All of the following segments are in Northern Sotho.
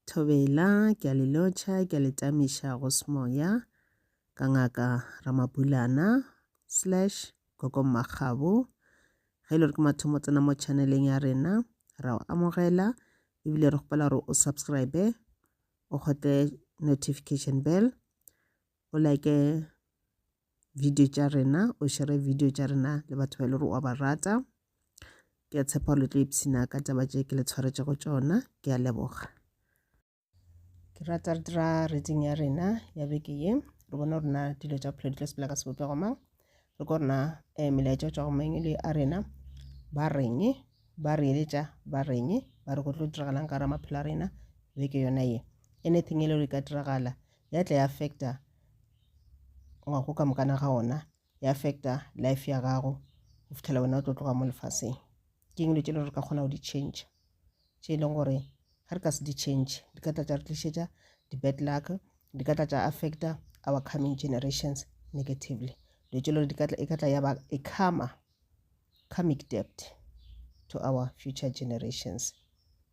Thobela, ke a le lotšha, ke a le tamiša go semoya, ka ngaka Ramabulana, slash, Gogo Mmakgabo. Ge e le gore ke mathomo tsena mo channeleng ya rena, ra o amogela, ebile re kgopela gore o subscribe, o kgotle notification bell, o like video tša rena o šere video tša rena le batho ba e le gore wa ba rata ke a tshepa le tlo ipshina ka taba tše ke le tshwaretšego tšona ke a leboga ke rata re dira reading ya rena ya beke ye re bona rena dilo tša bophelo di tlo sepela ka sebopego mang re ko rena um eh, melaetša tšwa go mang e le a rena ba reng ba re eletša ba reng ba re go tlo diragalang ka ra maphelo a rena beke yona ye anything e le gore e ka diragala ya tla ya affecta wa go ka mokana ga ona ya affecta life ya gago go fitlhela wena o tlo tloga mo lefaseng ke eng dilo tše le re ka kgona go di change tše e leng gore ga re ka se di change di ka tla tša re tlišetša di-bad luck di ka tla tša affecta our coming generations negatively dilo tše le gore e ka tla ya ba e karma karmic debt to our future generations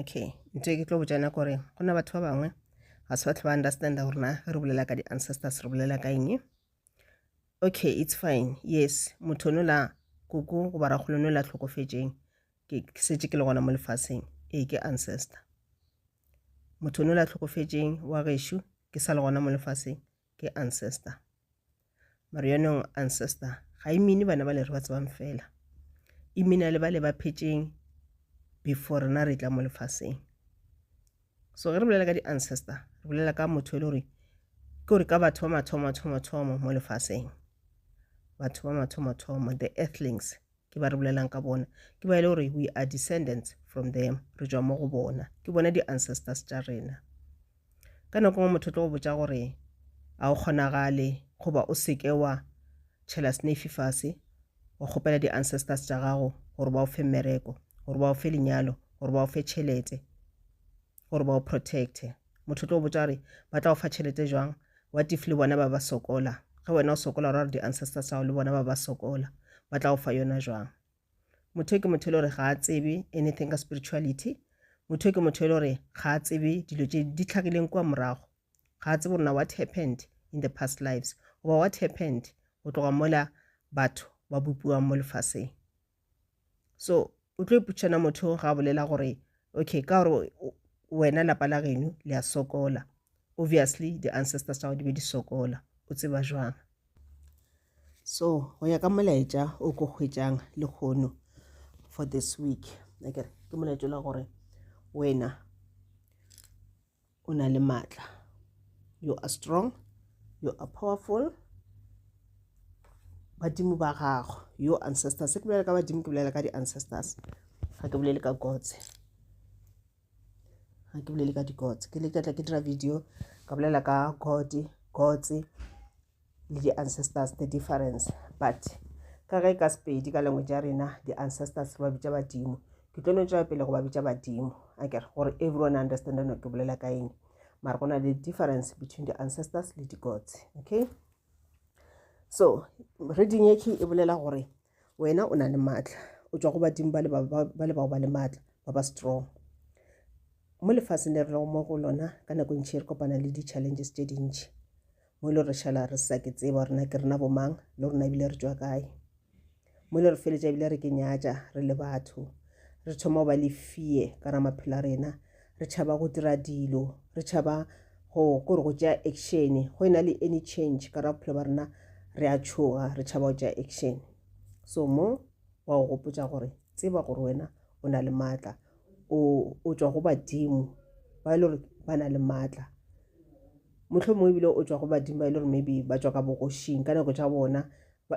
okay ntho e ke tlo botšana kore go na batho ba bangwe ga se batho ba understanda gore na re bolela ka di-ancestors re bolela ka eng okay it's fine yes motho no la koko goba rakgolo no la tlhokofetšeng ke setse ke le gona mo lefaseng ee ke ancestor motho no la tlhokofetšeng wa gešo ke sa le gona mo lefaseng ke ancestor Marionong Ancestor ga e mine bana ba le re ba tsebang fela e mina le ba le ba phetšeng before rena re tla mo lefaseng so ge re bolela ka di-ancestor re bolela ka motho e le gore ke gore ka batho ba mathomo mathomo mathomo mo lefaseng batho ba mathomo mathomo the earthlings ke ba re bolelang ka bona ke ba e le gore we are descendants from them re tšwa mo go bona ke bona di-ancestors tša rena ka nako ngwe motho tlo go botsa gore a o kgonagale goba o seke wa tšhela snafe fase wa kgopela di-ancestors tša gago gore ba o fe mmereko gore ba o fe lenyalo gore ba o fe tšhelete gore ba o protecte motho tlo botsa gore ba tla go fa tšhelete jwang what if le bona ba ba sokola ge wena o sokola ra gore di-ancestor sao le bona ba ba sokola ba tla go fa yona jwang motho ke motho e le gore ga a tsebe anything ka spirituality motho ke motho e le gore ga a tsebe dilo tse di tlhagileng kwa morago ga a tsebe rona what happened in the past lives goba what happened go tloga mola batho ba bopiwang mo lefaseng so o tlo ipotšana motho ga a bolela gore okay ka gore wena lapa la geno le a sokola obviously the ancestors tsa go di be di sokola o tseba jwang so go ya ka molaetša o ko hwetšang le kgono for this week ke molaetša la gore wena o na le maatla you are strong you are powerful badimo ba gago your ancestors se ke bolela ka badimo ke bolela ka di-ancestors ga ke bolele ka gotse ga ke bolele ka digotse ke le ke tla ke dira video ka bolela ka gode gotse le di-ancestors the difference but ka ge ka sepedi ka language ya rena di-ancestors re ba bitša badimo ke tlo no tšwela pele go ba bitša badimo a kere gore everyone understand no ke bolela ka eng mara go na le difference between di-ancestors le di-gods okay so reading e key e bolela gore Wena o na le maatla, o tšwa go badimo ba le bao ba le maatla, ba ba strong. Mo lefaseng le re lego mo go lona, ka nako e ntšhi re kopana le di-challenges tše dintšhi, mo e le re šala re sa ke tseba gore na ke rena bomang le rona ebile re tšwa kae. Mo e le re feletša ebile re ke nyatša re le batho, re thoma go ba le fear ka ra maphelo a rena, Re tšhaba go dira dilo. Re tšhaba go kore go tšea action. Go e na le any change ka ra bophelo ba rena re a tšhoga, re tšhaba go tšea action. So mo wa go gopotša gore tseba gore wena o na le maatla. O o tšwa go badimo ba e le gore ba na le maatla. Motlho mongwe ebile o tšwa go badimo ba e le gore maybe ba tšwa ka bogošing ka nako tša bona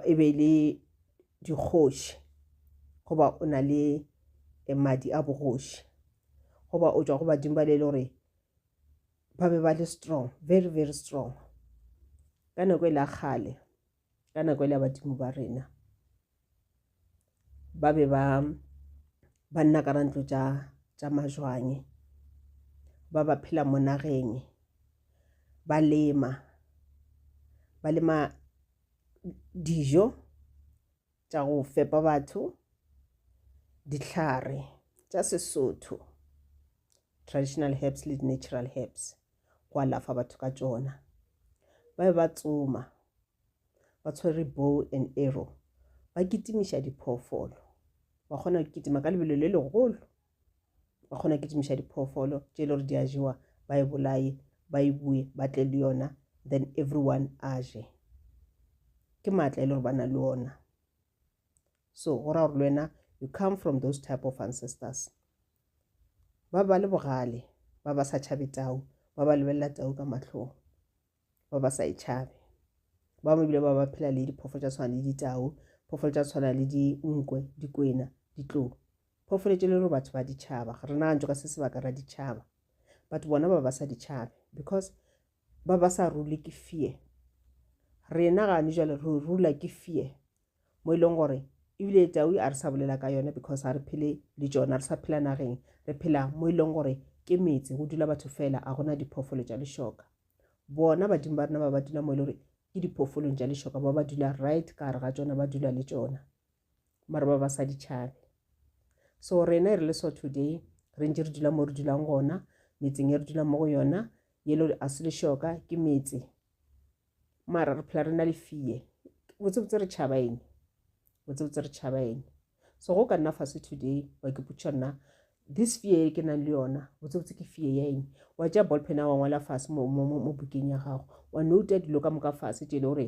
e be e le dikgoši goba o na le eh, madi a bogoši goba o tšwa go badimo ba le le gore ba be ba le strong very very strong ka nako e la kgale ka nako e la badimo ba rena ba be ba ba nna ka rantlo tša tša majwanye ba ba phela mo nageng ba lema ba lema dijo tša go fepa batho, dihlare tša Sesotho, traditional herbs le natural herbs, go alafa batho ka tšona. Ba be ba tsoma ba tshwere bow and arrow ba kitimiša diphoofolo ba kgona go kitima ka lebelo le legolo ba kgona ke tšimiša diphoofolo tše e le gore di a jewa ba e bolaye ba e bue ba tle le yona then everyone a je ke maatla e le gore ba na le ona so go raya gore le wena you come from those type of ancestors ba ba le bogale ba ba sa tšhabe tau ba ba lebelela tau ka matlhong ba ba sa e tšhabe ba bangwe ebile ba ba phela le diphoofolo tša tshwana le ditau phoofolo tša tshwana le dinkwe dikwena ditlou Phofoletše le re batho ba ditšhaba, ga re nagantšo ka se sebaka ra ditšhaba. Batho bona ba ba sa ditšhabe because ba ba sa rule ke fear. Rena gane jale re rula ke fear mo e leng gore ebile tau a re sa bolela ka yona because a re phele le tsona re sa phela nageng re phela mo e leng gore ke metse go dula batho fela a gona diphoofolo tša lešoka bona badimo ba rena ba ba dula mo e le gore ke diphoofolong tša lešoka ba ba dula right ka gare ga tsona ba dula le tsona mara ba ba sa di tšhabe so rena e re le so today re ntse re dula mo re dulang gona metseng e re dulang mo go yona yelo a se le shoka ke metse mara re phela re na le fee botsebotse re tšhaba eng botsebotse re tšhaba eng so go ka nna fase today wa ke putša nna this fee e ke nang le yona botsebotse ke fee ya eng wa tša ballpen a wa ngwala fase mo bukeng ya gago wa nouta dilo ka moka fase tšele gore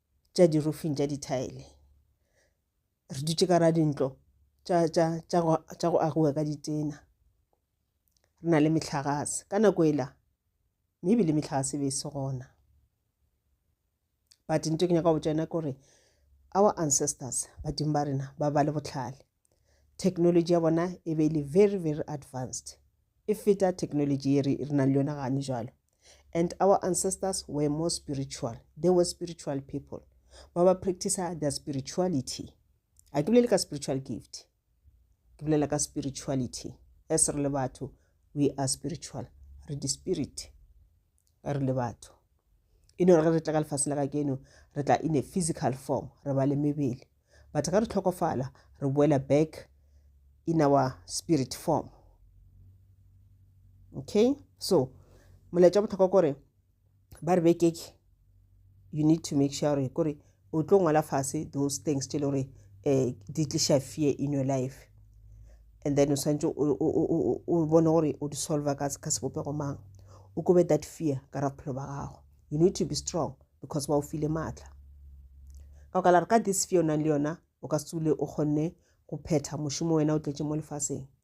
tša dirufing tša dithaele re dutše ka ra dintlo tša go agiwa ka ditena re na le metlhagase ka nako ela mme ebile metlhagase be e se gona but nto ke nyaka go botša yona ke gore our ancestors badimo ba rena ba ba le botlhale Technology ya bona e be e le very very advanced e feta technology ye re re nang le yona gane jalo and our ancestors were more spiritual they were spiritual people ba ba practicer their spirituality a ke bolele ka spiritual gift ke bolela ka spirituality as re le batho we are spiritual re di-spirit ba re le batho e no re ge re tla ka lefase la ka keno re tla in a physical form re ba le mebele but ga re tlhokofala re boela back in our spirit form okay so molaetša botlhokwa kore ba re bekeke you need to make sure gore o tlo ngwala fase those things tse le gore um di tliša fear in your life and then o swantse o bone gore o di solve ka sebopego mang o kobe that fear ka ra bophelo ba gago you need to be strong because ba o file maatla ka o ka la re ka this fear o nang le yona o ka se tsule o kgonne go phetha mošomo wena o tletse mo lefaseng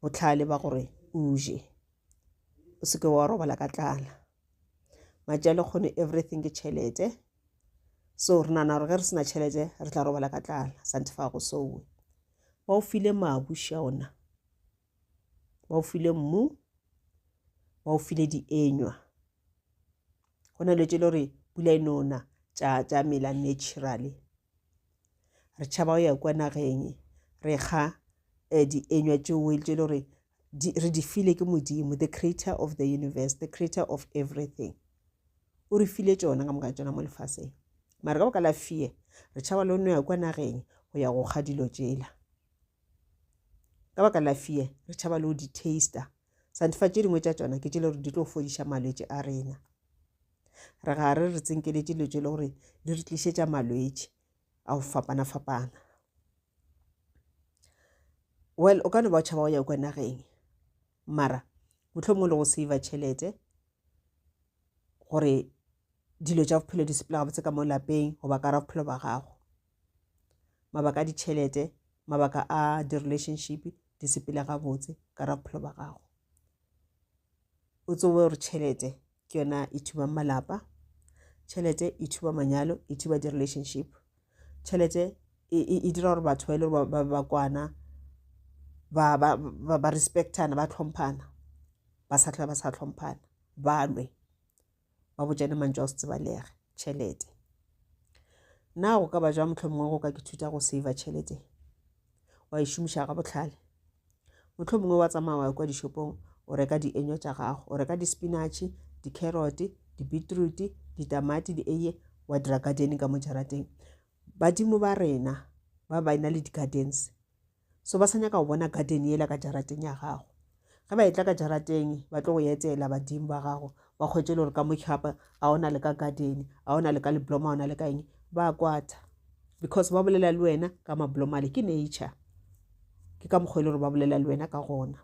bohlale ba gore o je o se ke wa robala ka tlala matša le kgone everything ke tšhelete so re nana gore ge re sena tšhelete re tla robala ka tlala sante fa go sowe ba o file mabu shaona ba o file mmu ba o file dienywa go na le tse le gore pula e nona tša mela naturally Re tšhaba go ya kua nageng e. Re kga eh, dienywa tšeo e le tše le gore re di file ke Modimo, the creator of the universe, the creator of everything. O re file tšona ka moka tšona mo lefaseng. Mare ka baka la fear, re tšhaba le no ya kua nageng go ya go kga dilo tšela. Ka baka la fear, re tšhaba le go di taster sa difa tše dingwe tša tšona ke tšele gore di tlo fodiša malwetši a rena re ga re re tsenkeletše dilo tše le gore di re tlišetša malwetši a go fapana-fapana well o ka no ba o tšhaba go ya kwa nageng mara motlho mongwe le go save tšhelete gore dilo tša bophelo di sepela gabotse ka mo lapeng goba ka ra bophelo ba gago mabaka a ditšhelete mabaka a di-relationship di sepele gabotse ka ra bophelo ba gago o tsobe gore tšhelete ke yona e thubang malapa tšhelete e thuba manyalo e thuba di-relationship tšhelete e, e, e dira gore batho ba e le gore ba ba kwana ba ba ba respectana ba tlhomphana ba sa tlhola ba sa tlhomphana ba lwe ba botšane mantšu a go se tsebalege tšhelete na go ka ba jwa mohlomongwe go ka ke thuta go save tšhelete wa e šomiša ga botlhale mohlomongwe wa tsamaya wa kwa dishopong o reka dienywa tša gago o reka dispinatšhe di-carrot di-beetroot ditamati di eye wa dira garden ka mo jarateng badimo ba rena ba ba e na le di-gardens So ba sa nyaka go bona garden yela ka jarateng ya gago. Ge ba etla ka jarateng, ba tlo go etela badimo ba gago, ba kgwetse le gore ka mochapa a ona le ka garden, a ona le ka libloma, a ona le ka eng. Ba kwata. Because ba bolela le wena ka mabloma le ke nature. Ke ka mokgwa e le gore ba bolela le wena ka gona.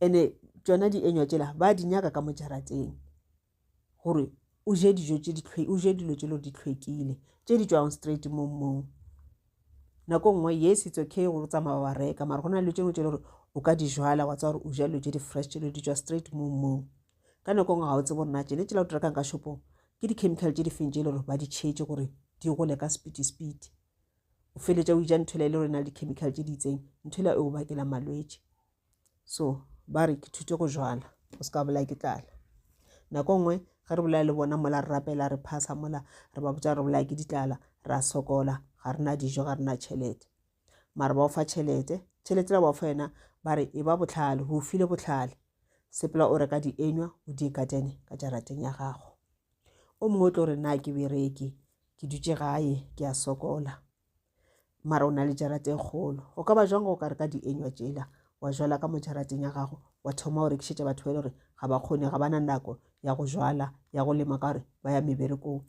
Ene tšona dienywa tšela ba di nyaka ka mo jarateng. gore o je dijo tše di tlhwe o je dilo tše lo di tlhwekile tše di tšwago straight mo mmung nako nngwe yes it's okay gore o tsamaya wa reka mara go na dilo tše dingwe tše le gore o ka di jala wa tsaya gore o ja dilo tše di fresh tše lo di tšwa straight mo mmung ka nako nngwe ga o tsebe gore na tšene tšela o di rekang ka shopong ke di-chemical tše di feng tše e le gore ba di tšhetše gore di gole ka speedy speedy o feletša o ija nthwela e le gore e na le di-chemical tše di itseng nthwela e o bakela malwetse so ba re ke thute go jala o se ka bolaya ke tlala nako nngwe ge re bolaya le bona mola re rapela re phasa mola re ba botsa re bolaya ke ditlala ra sokola ga re na dijo ga re na tšhelete mare ba o fa tšhelete tšhelete la ba o fa yena ba re e ba botlhale go file botlhale sepela o reka dienywa o di katene ka jarateng ya gago o mongwe o tlo re na ke bereke ke dutše gae ke a sokola mara o na le jarate e kgolo go ka ba jwang go ka re ka dienywa tšela wa jwala ka mo jarateng ya gago wa thoma o rekišetša batho ba e le gore ga ba kgone ga ba na nako ya go jwala ya go lema ka gore ba ya meberekong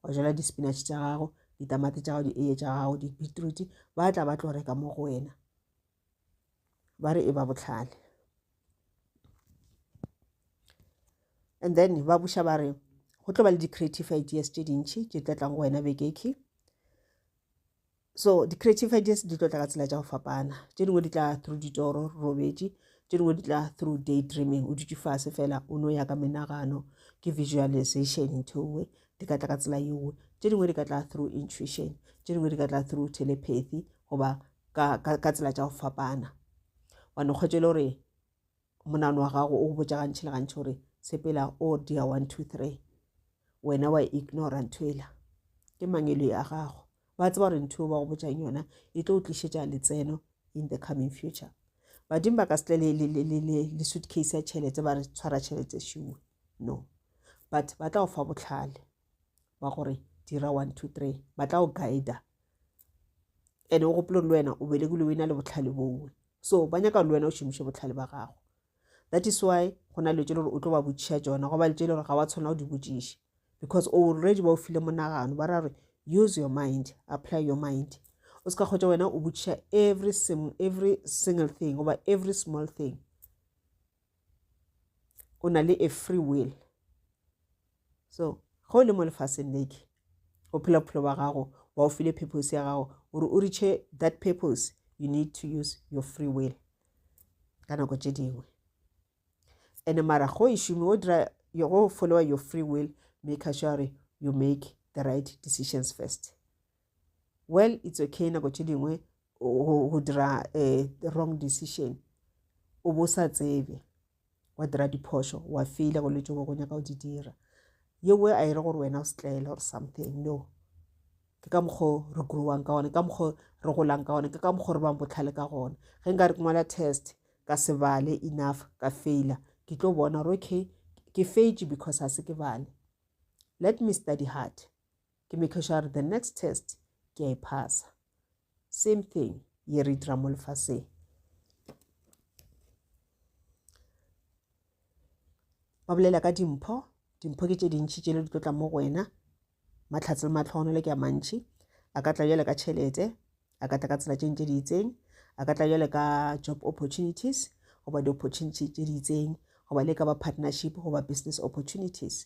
wa jwala di-spinach tša gago ditamati tša gago di-eye tša gago di-beetroot ba tla ba tlo reka mo go wena ba re e ba bohlale and then ba buša ba re go tlo ba le di-creative ideas tše dintšhi tše tla tlang go wena bekeke so di-creative ideas di tlo tla ka tsela tša go fapana tše dingwe di tla through ditoro robetše tše dingwe di tla through day dreaming o dutše fase fela o no ya ka menagano ke visualization ntho nngwe di ka tla ka tsela yewe tše dingwe di ka tla through intuition tše dingwe di ka tla through telepathy goba ka, ka, ka tsela tša go fapana wa no kgwetše le gore monano wa gago o botša gantši le gantši gore sepela o oh dia one two three wena wa ignora ntho ela ke mangelo ya gago ba tseba gore ntho ba go botšang yona e tlo tlišetša letseno in the coming future badimo ba ka se tle le, le, le, le, le, le suitcase ya tšhelete ba re tshwara tšhelete šiwe no but ba tla go fa botlhale ba gore dira one two three ba tla o guida ene o gopolong le wena o belegile o na le botlhale bowe so ba nyaka le wena o šomiše botlhale ba gago that is why go na letse le gore o tlo ba botšha tsona go ba letse le gore ga wa tshwana go di botšiše because already ba o file monagano ba ra re use your mind apply your mind o se ka kgotsa wena o botšiša every, every single thing goba every small thing o na le a free will So, ge o le mo lefaseng leke, o phela bophelo ba gago, ba o file purpose ya gago, gore o reache that purpose, you need to use your free will ka nako tše dingwe. And mara go e šome, o dira go followa your free will, make sure you make the right decisions first. Well, it's okay nako tše dingwe go dira eh, wrong decision, o bo sa tsebe. wa dira diphošo wa feile go letšo go nyaka go di dira yewe a e re gore wena o setlaela or something no ke ka mokgwa re growang ka gone ka mokgwa re golang ka gone ke ka mokgwa re bang botlhale ka gone ge nka re ke ngwala test ka se bale enough ka faila ke tlo bona gore okay ke feitše because ga se ke bale let me study hard Ke make sure the next test ke a e phasa. Same thing ye re dira mo lefaseng. Ba bolela ka dimpho, dimpho ke tše dintšhi tše le di tlo tla mo go wena. Matlhatse le matlhogonolo ke a mantšhi. A ka tla bjale ka tšhelete, a ka tla ka tsela tše ntše di itseng, a ka tla bjale ka job opportunities goba di-opportunity tše di itseng goba le ka ba partnership goba business opportunities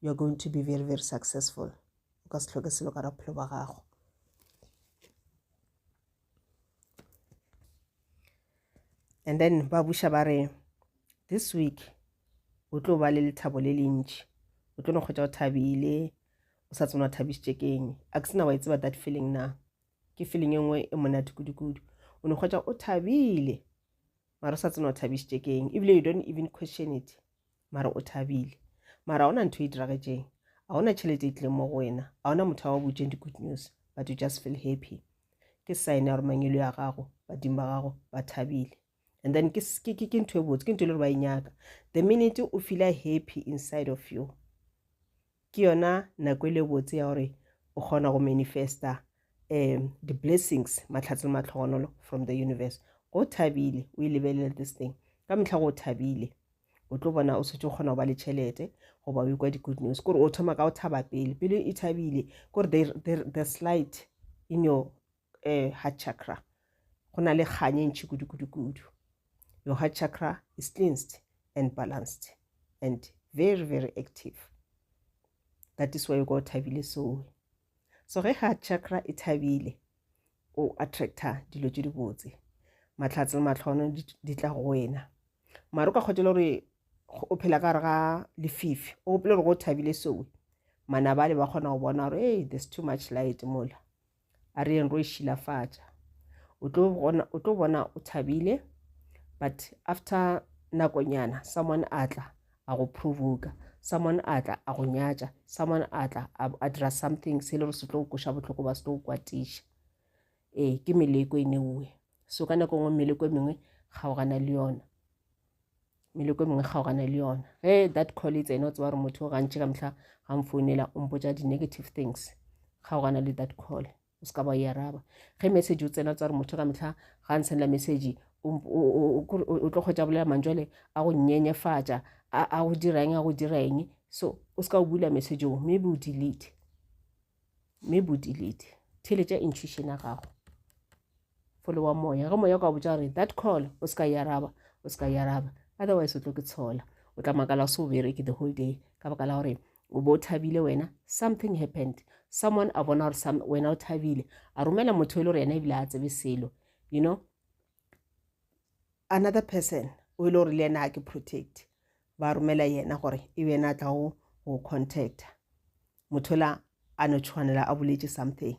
you are going to be very very successful o ka se tlhoke selo ka raphelo ba gago and then ba buša ba re this week o tlo ba le lethabo le lentši o tlo no kgwetsa o thabile o sa tsena thabišitše keng a ke sena wa e tseba that feeling na ke feeling e nngwe e monate kudukudu o no kgwetsa o thabile mara o sa tsena thabišitše keng ebile you don't even question it mara o thabile mara ona ntho e diragetšeng a ona tšhelete e tlileng mo go wena a ona motho wa botšeng di-good news but you just feel happy ke sign ya gore mangelo ya gago badimo ba gago ba thabile and then ke ntho e botse ke ntho e le gore ba e nyaka the minute o feela happy inside of you Ke yona nako e le botse ya gore o kgona go manifesta um di-blessings matlhatse le matlhogonolo from the universe go thabile o e lebelele this thing ka metlha go thabile o tlo bona o setse o kgona go ba le tšhelete goba o ikwa di-good news kore o thoma ka go thaba pele pele e thabile kore the slight in your eh, heart chakra go na le kgang e ntšhi kudu-kudu-kudu your heart chakra is cleansed and balanced and very very active that is why you go thabile soe so ge heart chakra e thabile o attracta dilo tše dibotse matlhatse le matlhono di tla go wena mare o ka kgotela gore o phela ka gare ga lefifi o gopele gore go thabile soe manabale ba kgona go bona gore hey there's too much light mola a re yeng ro e šilafatša o tlo bona o tlo bona o thabile but after nakonyana someone a tla a go provoka someone a tla a go nyatša someone a tla a dira something se le gore se tlo go koša bohloko ba se tlo go kwatiša ee ke meleko e neuwe so ka nako nngwe meleko e mengwe kgaogana le yona meleko e mengwe kgaogane le yona ge that call e tsena o tseba gore motho o gantši ka mehla ga mfounela o mpotsa di-negative things kgaogana le that call o se ka ba e araba ge message o tsena o tseba gore motho ka mehla ga ntshenela message o tlo kgwetsa bolela mantswale a go nyenyefatša a go dira eng a go dira eng so o se ka o bula message o maybe o delete mme bodilete theletša intuition ya gago fole wa moya ge moya o ka botsa gore that call o se ka yaraba o se ka yaraba otherwise o tlo ke tshola o tla makala se o bereke the whole day ka baka la gore o bo o thabile wena something happened someone a bona gore wena o thabile a romela motho e le gore yena ebile a tsebe selo you know another person o e le gore le yena a ke protect ba romela yena gore e be yena a tla go go contacta mothola a no tshwanela a boletše something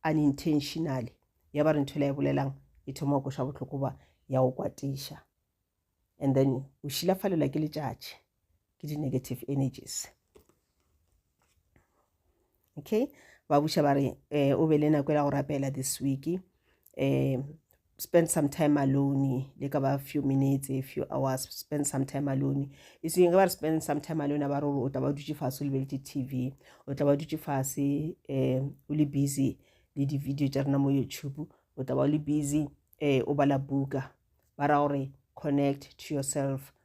unintentionally ya ba re ntho e la e bolelang e thoma go koša bohloko ba ya go kwatiša and then o šilafalela ke letšatši ke di-negative energies okay ba buša ba re um o be le nako e la go rapela this week um spend some time alone le ka ba few minutes a few hours spend some time alone e seng ge ba re spend some time alone ba re gore o tla ba dutse fase o lebeletse t v o tla ba dutse fase um o le busy le di-video tša rena mo youtube o tla ba o le busy um o bala buka ba ra gore connect to yourself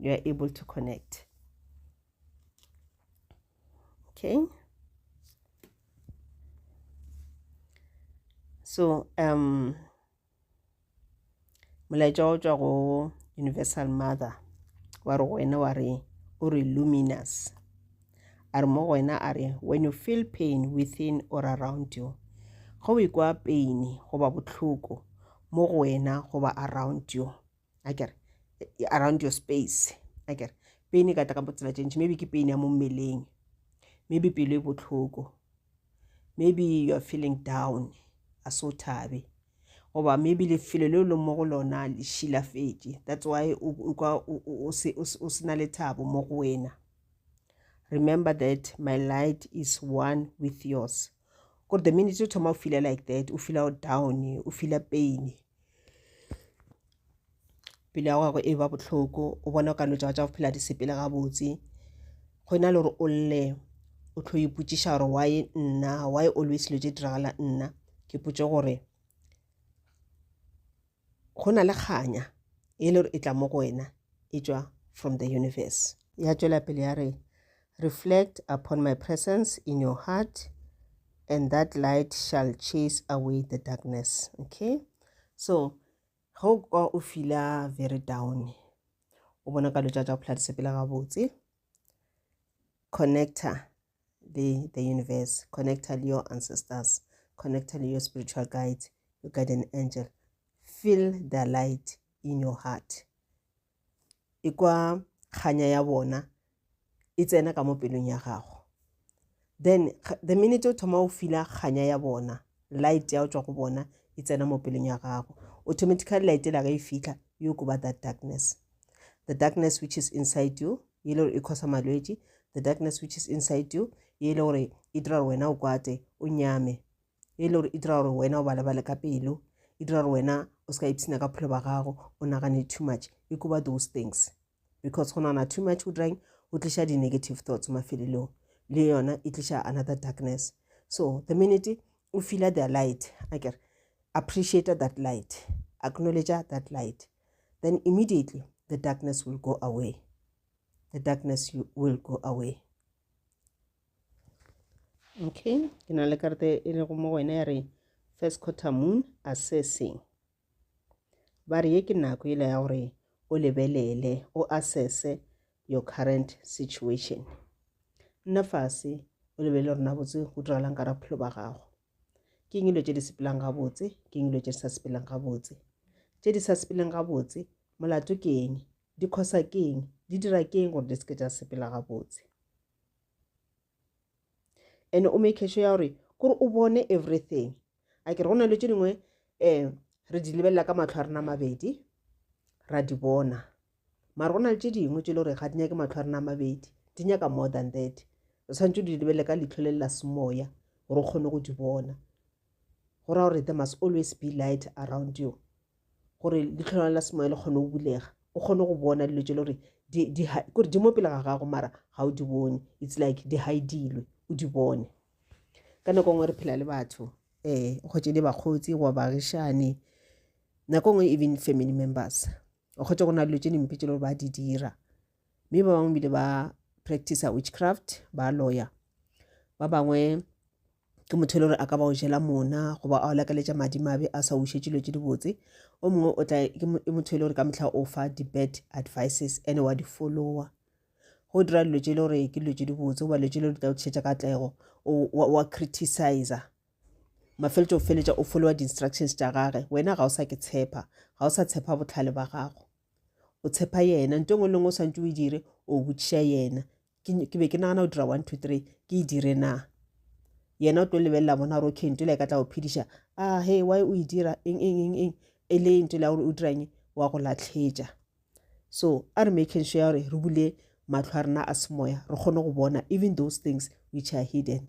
you are able to connect okay so um molaetša o tswa go universal mother wa re go wena wa re o re luminous a re mo go wena a re when you feel pain within or around you go o ikwa pain goba bohloko mo go wena goba around you a kere around your space a kere pain e ka tla ka botsela tše ntši maybe ke pain ya mo mmeleng maybe pelo e bohloko maybe you are feeling down a so thabe goba maybe lefelo leo leng mo go lona le šilafetše that's why o se na le thabo mo go wena remember that my light is one with yours kore the minute o thoma o feela like that o feela o down o feela pain pele ya gago e ba bohloko o bona o ka no tšaba tša go phela di sepele gabotse go na le gore o lle o tlo ipotšiša gore why nna why always lo tše diragala nna ke potše gore Go na le kganya e le gore e tla mo go wena e tšwa from the universe. Ya tšwela pele ya re, Reflect upon my presence in your heart and that light shall chase away the darkness. Okay? So, ge o kwa o fila very down, o bona ka lotša tša go phela di sepela gabotse, connecta be the universe, connectile your ancestors, connectile your spiritual guides, your guardian angel. Feel the light in your heart. Ikwa kganya ya bona e tsena ka mo pelong ya gago. Then the minute o thoma o fila kganya ya bona, light ya o tswa go bona e tsena mo pelong ya gago. Automatically light e la ge e fitlha, you go ba that darkness. the darkness which is inside you ye e le gore e khosa malwetši the darkness which is inside you ye e le gore e dira gore wena o kwate o nyame ye e le gore e dira gore wena o balebale ka pelo e dira gore wena o se ka ipshina ka phelo ba gago o nagane too much e kuba those things because go nagana too much o dirang o tliša di-negative thoughts mafelelong le yona e tliša another darkness so the minute o feela their light a kere appreciate that light acknowledge that light then immediately the darkness will go away. The darkness will go away. Okay, ke na le karete e lego mo go wena ya re first quarter moon assessing. Ba re ye ke nako ele ya gore o lebelele o assesse your current situation. Nna fase o lebelele rona botse go diragalang ka ra bophelo ba gago. ke eng dilo tše di sepelang gabotse ke eng dilo tše di sa sepeleng gabotse tše di sa sepeleng gabotse molato ke eng di khosa ke eng di dira ke eng gore di seke tša sepela gabotse and o make sure ya gore kore o bone everything a ke re go na dilo tše dingwe um re di lebelela ka matlho a rena mabedi ra di bona Mara go na le tše dingwe tše le gore ga di nyake matlho a rena a mabedi, di nyaka more than that. Re tshwanetse di lebelele ka leitlho le la semoya gore o kgone go di bona. Go raya gore there must always be light around you gore leitlho la la semoya le kgone go bulega o kgone go bona dilo tše le gore kore di mo pele ga gago mara ga o di bone it's like di haidilwe o di bone ka nako nngwe re phela le batho um eh, kgotse le bakgotsi goba bagišane nako nngwe even family members o kgotse go na dilo tše dimpe tše le gore ba di dira mme ba bangwe bile ba practice witchcraft ba lawyer ba bangwe ke motho e le gore a ka ba o jela mona goba a o lakaletša madimabe a sa ušetše dilo tše dibotse o mongwe o tla ke motho e le gore ka mehla o fa di-bad advices and wa di follower go dira dilo tše e le gore ke dilo tše dibotse goba dilo tše e le gore di tla o tlišetša katlego wa criticizer Mafeletšo o feletša o followa di-instructions tša gage. Wena ga o sa ke tshepa, ga o sa tshepa botlhale ba gago. O tshepa yena, nto engwe le ngwe o swantse o e dire, o botšiša yena. Ke be ke nagana go dira one two three, ke e dire na? Yena o tlo lebelela bona gore okay, nto le ka tla go phediša. A ah, he, why o e dira, eng, eng, eng, eng, e le nto le ya gore o diranye, wa go latlhetša. So, a re making sure ya gore re bule matlho a rena a semoya, re kgone go bona even those things which are hidden.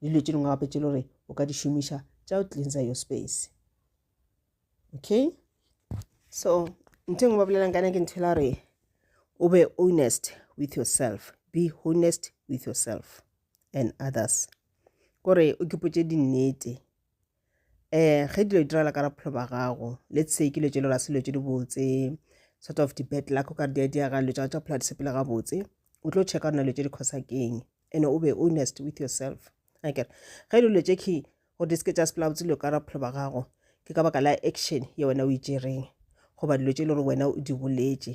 le dilo tše dingwe gape tše le gore o ka di šomiša tša go cleansa your space okay so ntho engwe ba bolelang kana ke ntho la gore o be honest with yourself be honest with yourself and others kore o kipotše dinnete eh ge dilo di diragala ka ra bophelo ba gago let's say ke lo tšelo ra se lo tše di botse sort of di-bad luck o ka re di a diaga lo tša tša phela di sepele gabotse o tlo checka rona lo tše di khosa keng and o be honest with yourself aker ge e dilo tše key gore di seke tša sepela botse dilo ka ra bophelo ba gago ke ka baka la action ye wena o itšereng e goba dilo tše e le gore wena o di boletše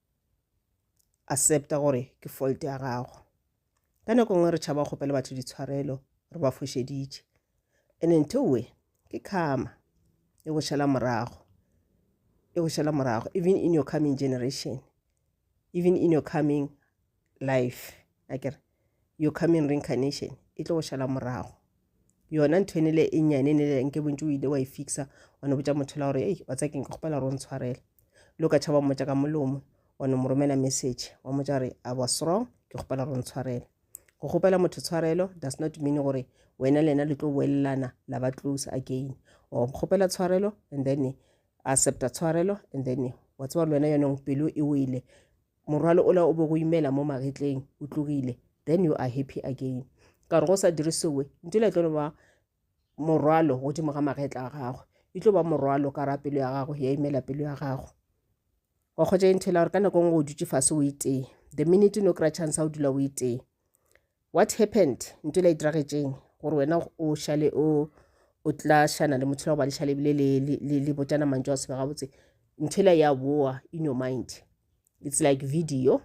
accepta gore ke fault ya gago ka nako ngwe re tšhaba kgopela batho ditshwarelo re ba fošeditše and ntowe ke karma e go šala morago e go šala morago even in your coming generation even in your coming life a kere your coming reincarnation e tlo go šala morago yona ntho ene le e nyane ne le nke bontse o ile wa e fixa wa ne botsa motho la gore ei wa tsa keng ka kgopela gore o ntshwarele lo ka tšhaba mmotsa ka molomo wa ne mo romela message wa motsa gore i was wrong ke kgopela gore o ntshwarele go kgopela motho tshwarelo does not mean gore wena lena le tlo boelelana la ba close again or kgopela tshwarelo and then accepta tshwarelo and then wa tseba le wena yonong pelo e wele morwalo ola o be go imela mo magetleng o tlogile then you are happy again ka gore go sa dire sewe nto le tlo no ba morwalo godimo ga magetla a gagwe e tlo ba morwalo ka ra pelo ya gagwe ya imela pelo ya gagwe wa kgotsa e nthela gore ka nako e nngwe o dutse fase o itee the minute no kry chance a o dula o itee What happened? Ntwele e diragetšeng gore wena o šale o o tla šana le motho la go ba lešale ebile le, le, le, le botšana mantšu a sebe gabotse nthwela ya boa in your mind it's like video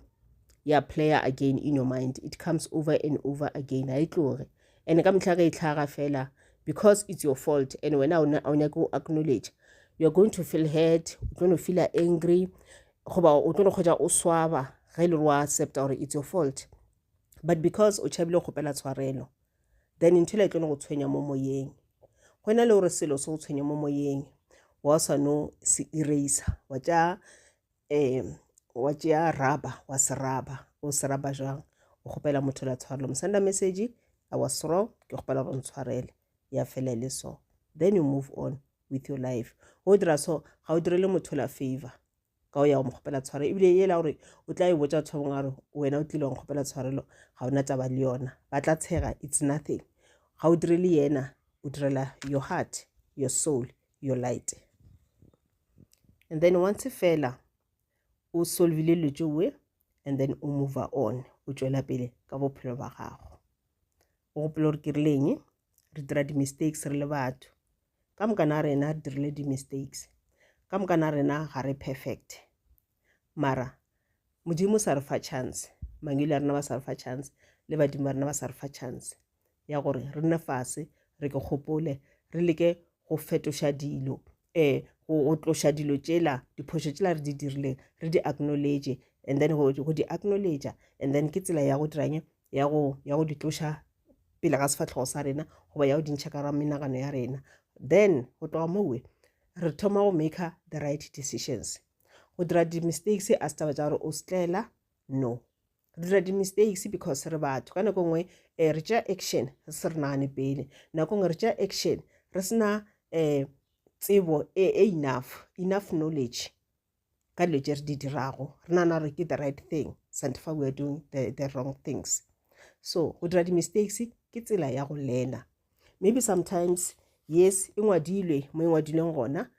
ya player again in your mind it comes over and over again ga e tloge and ka metlha ge e tlhaga fela because it's your fault and wena a o nyake go acknowledge you're going to feel hurt o tlo no feela angry goba o tlo no kgwetsa o swaba ge e le gore wa accepta gore it's your fault but because o tšhabile go kgopela tshwarelo then ntho le tlo go tshwenya mo moyeng go na le gore selo se go tshwenya mo moyeng wa sa no se eraser wa tša um wa tšea raba wa se raba o se raba jang o kgopela motho la tshwarelo mo senda message i was wrong ke kgopela gore ntshwarele ya fela e le so then you move on with your life go dira so ga o direle motho la favor ka o ya go mokgopela tshware ebile e la gore o tla e botsa batho ba bangwe a re wena o tlile go kgopela tshwarelo ga ona taba le yona ba tla tshega it's nothing ga o dire le yena o direla your heart your soul your light and then once fela o solvile dilo tšeoe and then o move on o tšwela pele ka bophelo ba gago o gopela gore ke rileng re dira di-mistakes re le batho ka moka na rena re dirile di-mistakes ka moka na rena ga re perfect mara modimo sa re fa chance mangwele a rena ba sa re fa chance le badimo ba rena ba sa re fa chance ya gore re nne fase re ke kgopole re leke go fetoša dilo um go tloša dilo tšela diphošo tšela re di dirileng re di acknowledge and then go di acknowledge and then ke tsela ya go diranye ya go di tloša pele ga sefatlhogo sa rena goba ya go dintšha ka ra menagano ya rena then go tloga mowe re thoma go make the right decisions go dira di-mistakes a se taba tsa gore o setlela no re dira di-mistakes because re batho ka nako nngwe um re tšea action re se re nagane pele nako nngwe re tšea action re sena um tsebo e, e enough enough knowledge ka dilo tše re di dirago re nana gore ke the right thing sante fa we are doing the, the wrong things so go dira di-mistakes ke tsela ya go lena maybe sometimes yes e ngwadilwe mo e ngwadilweng gona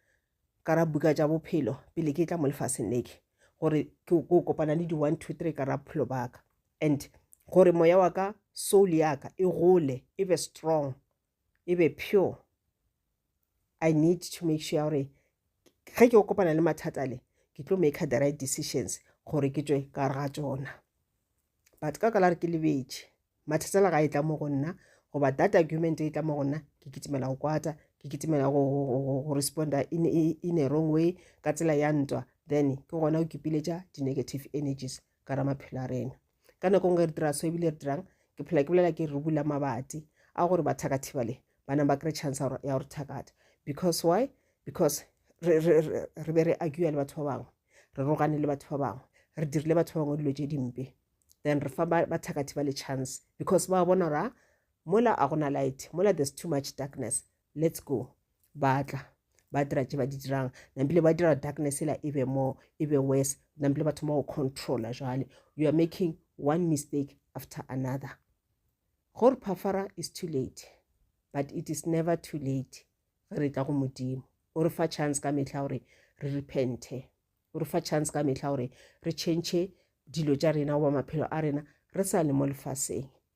ka ra buka tša bophelo pele ke tla mo lefaseng neke gore ke kopana le di-one two three ka ra bophelo baka and gore moya wa ka soul ya ka e gole e be strong e be pure i need to make sure gore ge ke kopana le mathata le ke tlo make the right decisions gore ke tswe ka gare ga tsona but ka kala re ke lebetše mathata la ga e tla mo go nna goba that argument e tla mo go nna ke kitimela go kwata ke kitimela go responda in, in a wrong way ka tsela ya ntwa then ke gona o kipiletša di-negative energies ka ra maphelo a rena ka nako nngwe re dira so ebile re dirang ke phela ke bolela ke re bula mabati a gore bathakathiba le bana ba kry chance ya gore thakata because why because re be re agua le batho ba bangwe re rogane le batho ba bangwe re dirile batho ba bangwe dilo tse dimpe then re fa bathakathiba le chance because ba bona gore ah, mola a gona light mola there's too much darkness let's go ba tla ba dira tše ba di dirang nampile ba dira darkness ela e be more e be worse nampile ba thoma go controla jale you are making one mistake after another gore phafara is too late but it is never too late ge re tla go modimo o re fa chance ka mehla gore re repente o re fa chance ka mehla gore re change dilo tša rena goba maphelo a rena re sa le mo lefaseng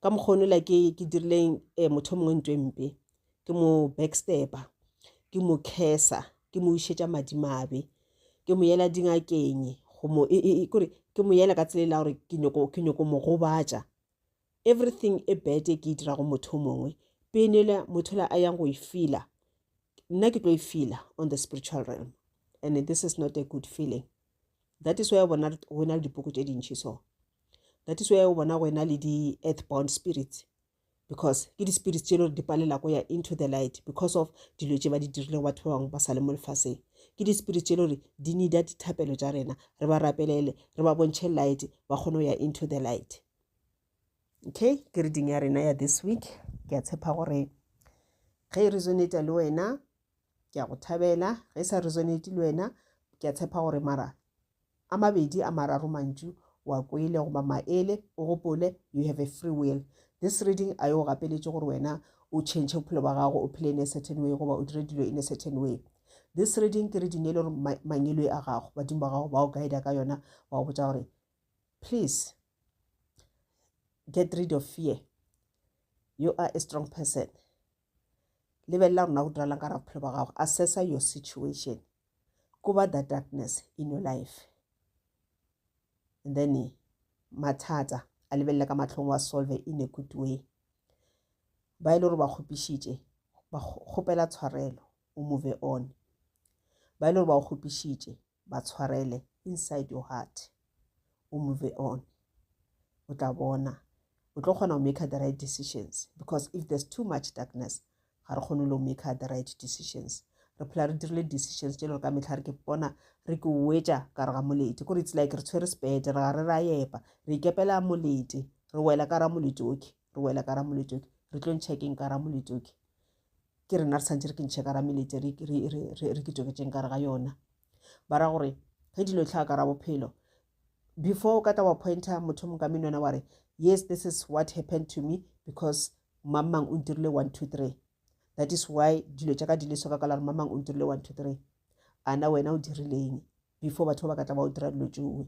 ka mokgwa ono la ke ke dirile eh, motho mongwe ntwe mpe ke mo backstepper ke mo kesa ke mo ušetša madimabe ke mo yela dingakeng go mo e, e, e, kore ke mo yela ka tsela e la gore ke nyoko ke nyoko mo gobatša everything e bad e ke e dirago motho mongwe penele motho la a yang go e fila nna ke tlo e fila on the spiritual realm and this is not a good feeling that is why bona go na le dipoko tše dintšhi so that is why o bona go ena le di-earth bound spirits because ke di-spirits tše e le gore di palela ko ya into the light because of dilo tše ba di dirile go batho ba bangwe ba sa le mo lefaseng ke di-spirit tše e le gore di needa dithapelo tša rena re ba rapelele re ba bontšhe light ba kgone go ya into the light okay ke reading ya rena ya this week ke a tshepa gore ge e resonata le wena ke a go thabela ge sa resonate le wena ke a tshepa gore mara a mabedi a mararo mantšu wa kwele goba maele o gopole you have a free will this reading a yo gapeletše gore wena o change bophelo ba gago o phele in a certain way goba o dire dilo in a certain way this reading ke reading e le gore mangelo a gago badimo ba gago ba o guida ka yona ba go botsa gore please get rid of fear you are a strong person lebelela gore na go diralang ka ra bophelo ba gago assessa your situation kuba the darkness in your life and then mathata a lebelela ka matlhong wa solve in a good way ba e le gore ba kgopišitše ba kgopela tshwarelo o move on ba e le gore ba o kgopišitše ba tshwarele inside your heart o move on o tla bona o tlo kgona go maker the right decisions because if there's too much darkness ga re kgone lo maker the right decisions re phela re dirile decisions tse lego ka metlha re ke bona re ke wetša ka re ga molete kore it's like re tshwere sebete re ga re ra yepa re ikepela molete re wela ka ra molete oke re wela ka ra molete oke re tlo ntšhekeng ka ra molete oke ke rena re tshwanetse re kentšhe ka ra meletse re kitoketseng kare ga yona ba ra gore ge dilo e tlhaga ka ra bophelo before o ka tla wa pointer motho mong ka menwana wa re yes this is what happened to me because mang mang o ntirile one two three that is why dilo tša ka di leso ka kala re mang mang o ntirile one two three ana wena o dirileng before batho ba ba ka tla ba o dira dilo tšoe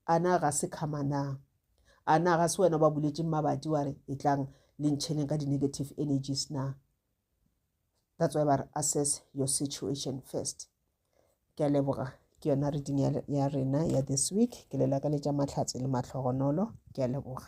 A na ga se karma na? A na ga se wena o ba buletšeng mabati wa re e tlang le ntšheneng ka di-negative energies na? That's why ba re assess your situation first. Ke a leboga ke yona reading ya rena ya this week ke le lakaletša mahlatse le mahlogonolo ke a leboga.